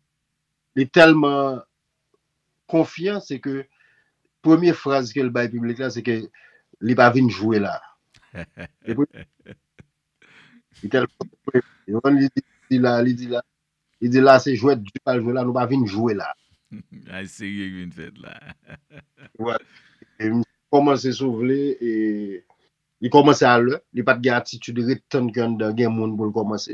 Li tèlman konfyan se ke premye fraz ke l bay piblik la se ke li pa vin jwe la. Li tèlman konfyan. Ou konprann li di la, li di la, li di la se jwèt di pral jwe la, nou pa vin jwe la. Ay serye ki vin fèt la. Wè, e misye kòmanse si w vle e li kòmanse a lè, li pa t gen atitid ret tann ke anndan gen moun pou l kòmanse.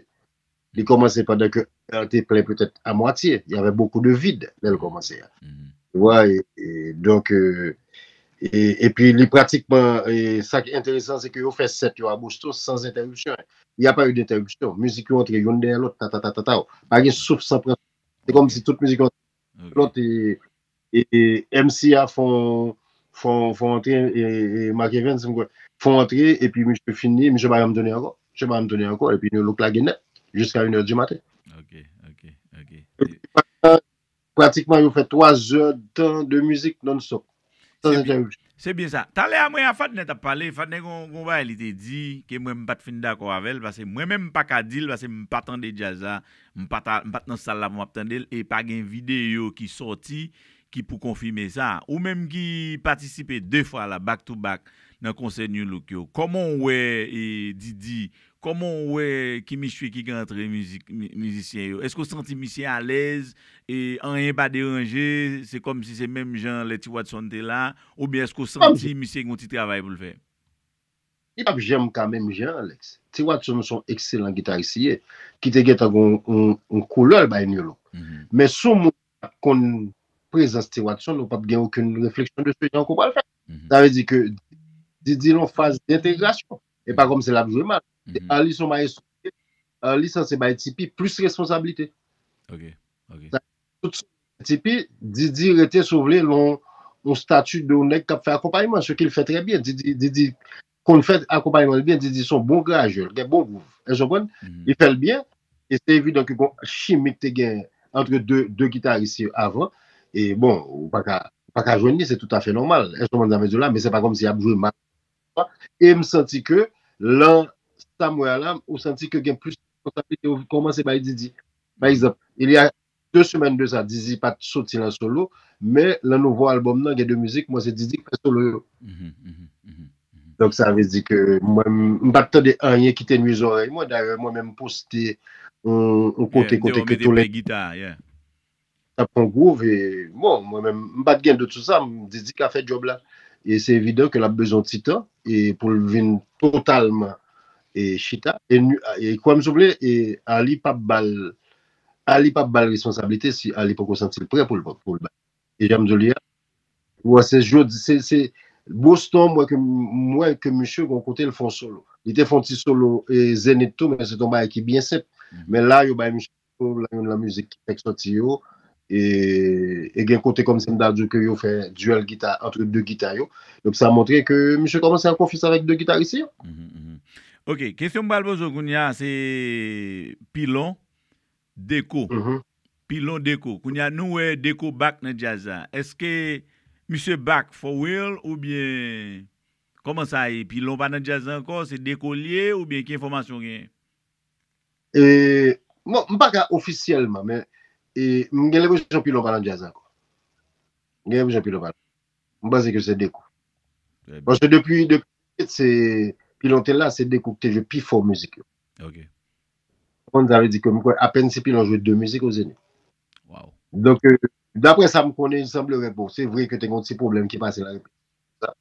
Li komanse pandan ke an te plen petèt a mwatye. Y avè bokou de vid lè l komanse a. Ou wè? E donk, e pi li pratikman, e sa ki enteresan se ke yo fè 7 yo a Boston san zentèripsyon. Il y a pas eu d'interruption. Mizik yo antre youn dèyè lòt, tatatatataw. Pa gen souf san pran souf. Se kòmsi tout mizik yo antre Lòt e MC a fon fon antre e Marc Evens m kwè fon antre epi misye fin li misye pa janm tounen ankò misye pa janm tounen ankò epi New Look lage nèt jiska 1 è di maten. Ok ok ok. Pratikman yo fè 3 zè tan de mizik non stop. Sans entèripsyon. Se byen sa. Talè a mwen a Fadnè t ap pale, Fadnè gen yon bagay li te di ke mwen m pa t fin dakò avè l pase mwen menm m pa ka di l pase m pa tande djaz la, m pa ta m pa t nan sal la pou m ap tande l e pa gen videyo ki sòti ki pou konfime sa. Ou menm ki patisipe 2 fwa la back to back nan konsè Nu Look yo, kòman w wè Didi Kòman w wè ki misye ki gen antre mizik mizisyen yo? Èske w santi misye alèz e anyen pa deranje, se kòmsi se menm jan lè Ti Watson te la oubyen èske w santi misye gen yon ti travay pou l fè? Li pap janm ka menm jan Alex. Ti Watson son ekselan gitaris li ye, ki te gentan gen yon koulè l bay Nolo. Men si w moun ki pat konn prezans Ti Watson, ou pap gen okenn refleksyon de se jan ke w pral fè. Sa vle di ke Didi lan faz dentegrasyon. E pa kòmsi lap jwe mal. Arly son maestro li ye. Arly sanse bay Tipi plis responsablite. Ok. Ok. Sa tout son bay Tipi, Didi rete si w vle lan yon stati de yon nèg kap fè akonpayman, se kil fè trè byen. Didi, Didi konn fè akonpayman li byen. Didi son bon grajè. Li gen bon gwouv. Èske w konprann? Li fè l byen. E se evidan ke gon chimi ki te gen antre de, de gitaris yo avan. E bon, ou paka, ou paka jwenn li. Se toutafè nòmal. Èske w konprann sa m vle di w la? Men se pa kòmsi yap jwe mal. e m santi ke lan sa m wè a la ou santi ke gen plis responsabilite ou kòmanse bay Didi pa egzanp il ya 2 semèn de sa Didi pa t soti lan solo men lan nouvo albòm nan gen 2 mizik mwen se Didi k fè solo yo donk sa vle di ke mwen m pa t tande anyen ki te nwi zòrèy mwen dayè mwen menm poste yon kote kote ke Tolentino. Tap pran Groove e bon mwen menm m pat gen dout sou sa, m di di ka fè djòb la e se evidan ke lap bezwen yon ti tan e poul vin totalman e chita e nu e kwèm si w vle e Arly pap bal Arly pap bal responsablite si Arly poko santi l prè pou l pou l bal e janm di w li a ou wè se jodi se se Boston m wè ke m wè ke misye gon kote l fon solo li te fon ti solo e Zenith tou men se te yon bagay ki byen senp men la yo bay misye Yo la youn lan mizik ki fèk sòti yo e gen kote kòm si m ta di w ke yo fè duel gita antre 2 gita yo. Donk sa montre ke misye kòmanse an konfyans avèk 2 gitaris li yo. Ok, kesyon m pral poze w kounye a se Pilon, Deco. Pilon, Deco. Kounye a nou wè Deco back nan djaz la. Eske misye back for real oubyen kòman sa ye? Pilon pa nan djaz la ankò, se Deco li ye oubyen ki enfòmasyon w genyen? E bon m paka ofisyèlman men e m gen lenpresyon Pilon pa nan djaz ankò. M gen lenpresyon Pilon pa nan. M panse ke se Dekou. Paske depi se Pilon te la se Dekou ki te jwe pi fò mizik yo. Ok. Ou konprann sa vle di ke m kwè apèn si Pilon jwe 2 mizik o Zenith. Waw. Donk daprè sa m konnen il semblerait bon se vre ke te gen yon ti pwoblèm ki pase la repetisiyon sa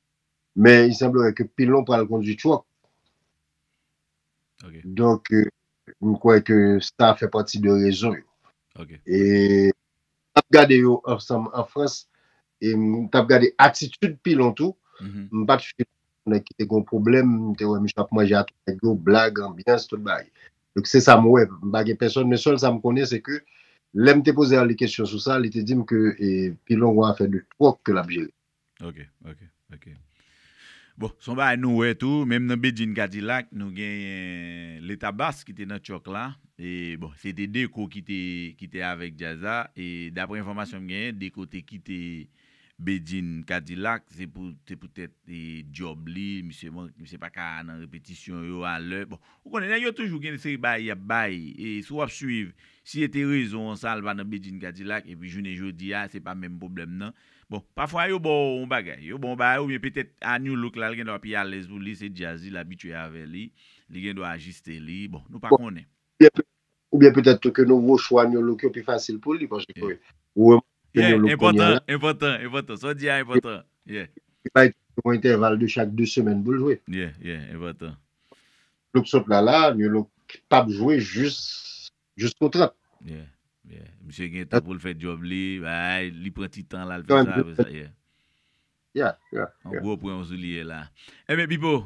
men il semblerait ke Pilon pral kondwi Truck Donk, m kwè ke sa fè pati de rezon yo. E m t ap gade yo ansanm an Frans, e m t ap gade atitid Pilon tou. M pa t fini m te wè ki te gen yon pwoblèm, m te wè misye ap manje ak nèg yo, blag, anbyans, tout bagay. Donk, se sa m wè. M pa gen pèsòn, men sèl sa m konnen se ke lè m te poze Arly kesyon sou sa, li te di m ke Pilon gen yon afè de twòk ke l ap jere. Ok ok ok bon son bagay nou wè tou menm nan Bedjine Cadillac nou genyen leta bass ki te nan tchòk la e bon se te Deco ki te ki te avèk djaz la e daprè enfòmasyon m genyen Deco te kite Bedjine Cadillac se pou se pou tèt e djòb li misye man misye pa ka nan repetisyon yo a lè bon ou konnen nèg yo toujou gen yon seri bagay y ap bay e si w ap swiv si e te rezon an sa l pa nan Bedjine Cadillac epi jounen jodi a se pa menm pwoblèm nan Bon, pafwa yo ba w yon bagay. Yo ba w bagay oubyen petèt a New Look la l gen dwa pi alèz pou li, se djaz li, l abitye avè li, li gen dwa ajiste li, bon, nou pa Bon, konnen. oubyen petèt oubyen petèt tou ke nouvo chwa New Look yo pi fasil pou li paske Yeah. ou remake ke Yeah, New Look kounye a enpòtan, la, enpòtan, enpòtan. Sa w di a li enpòtan. Yeah. li bay tèt li yon entèval de chak 2 semèn pou l jwe. Yeah, yeah, enpòtan. Look sot la la, New Look pap jwe jis Jusko 30. Yeah yeah misye gen tan poul fè job li bay li pran ti tan la l fè sa apre sa yeah Yeah yeah Yon yeah. gwo pwen w souliye la. Enben Pipo